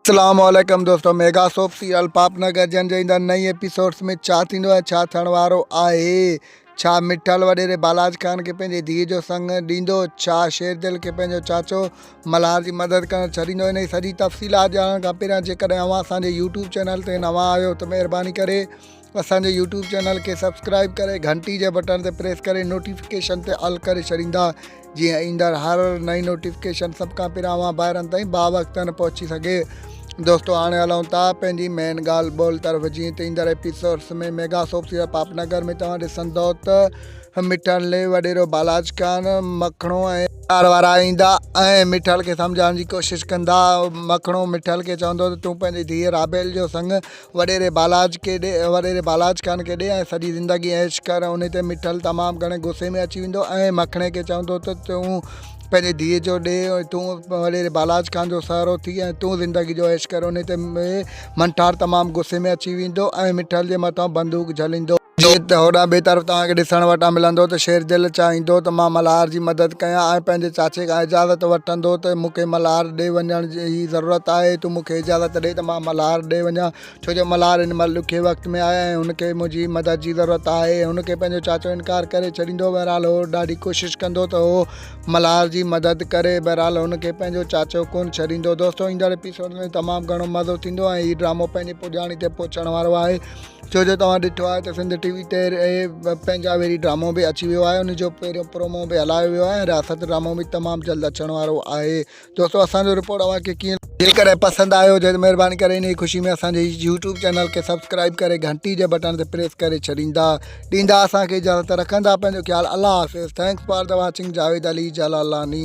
اسلام عليڪم دوستو ميگا سوپ سيريل پاپ نگر جن جي ايندڙ نئين ايپيسوڊس ۾ ڇا ٿيندو ۽ ڇا ٿيڻ وارو آهي ڇا مٺل وڏيري بالاچ خان کي پنهنجي ڌيء جو سڱ ڏيندو ڇا شير دل کي پنهنجو چاچو ملهار جي مدد ڪرڻ ڇڏيندو انهي سڄي تفصيلات ڄاڻڻ کان پهريان جيڪڏهن اوهان اسان جي يوٽيوب چينل تي نوان آهيو ته مهرباني ڪري اسان جي يوٽيوب چينل کي سبسڪرائب ڪري گهنٽي جي بٽڻ تي پريس ڪري نوٽيفڪيشن تي آل ڪري ڇڏيندا جيئن ايندڙ هر نئين نوٽيفڪيشن سڀ کان پهريان اوهان ڀائرن تائين باوقتن پهچي سگهي دوستو هاڻي هلون ٿا پنهنجي مين ڳالهه ٻولهه طرف جيئن ته ايندڙ ايپيسوڊس ۾ ميگا سوپ سيرا پاپ نگر ۾ توهان ڏسندو ته مٺل لي وڏيرو بالاج خان مکڻو ۽ ڪار وارا ايندا ۽ مٺل کي سمجهائڻ جي ڪوشش ڪندا مکڻو مٺل کي چوندو ته تون پنهنجي ڌيء رابيل جو سڱ وڏيري بالاچ کي ڏي وڏيري بالاچ خان کي ڏي ۽ سڄي زندگي عيش ڪر ۽ انهي تي مٺل تمام گهڻي غصي ۾ اچي ويندو ۽ مکڻي کي چوندو ته تون پنهنجي ڌيء جو ڏي ۽ تون وڏيري بالاچ خان جو سهرو ٿي ۽ تون زندگي جو عيش ڪر انهي تي منٺار تمام غصي ۾ اچي ويندو ۽ مٺل جي مٿان بندوق جهليندو. جيئن ته هوڏانهن ٻئي طرف توهان کي ڏسڻ وٽان ملندو ته شيردل چاهيندو ته مان ملهار جي مدد ڪيان ۽ پنهنجي چاچي کان اجازت وٺندو ته مون کي ملهار ڏي وڃڻ جي جي ضرورت آهي، تون مون کي اجازت ڏي ته مان ملهار ڏي وڃان، ڇو جو ملهار هن مهل ڏکي وقت ۾ آهي ۽ هن کي منهنجي مدد جي ضرورت آهي. هن کي پنهنجو چاچو انڪار ڪري ڇڏيندو، بهرحال هو ڏاڍي ڪوشش ڪندو ته هو ملهار جي مدد ڪري، بهرحال هن کي پنهنجو چاچو ڪونه ڇڏيندو. دوستو ايندڙ ايپيسوڊ ۾ تمام گهڻو مزو ٿيندو ۽ هي ڊرامو پنهنجي پڄاڻي تي پهچڻ وارو آهي، ڇو جو توهان ڏٺو آهي ته سنڌ ٽي وي تي پنهنجا ويري ڊرامو به اچي ويو آهي، ان جو پهريون پرومو به هلايو ويو آهي ۽ رياست ڊرامو به تمام جلد اچڻ وارو آهي. دوستو اسان جو رپورٽ اوهان کي ڪيئن لڳو جيڪڏهن پسند آيو هجي ته مهرباني ڪري انهي خوشي ۾ اسان جي يوٽيوب چينل کي سبسڪرائيب ڪري گهنٽي جي بٽڻ تي پريس ڪري ڇڏيندا ڏيندا اسان کي اجازت رکندا پنهنجو خيال الله حافظ thanks for the watching Javed Ali Jalalani.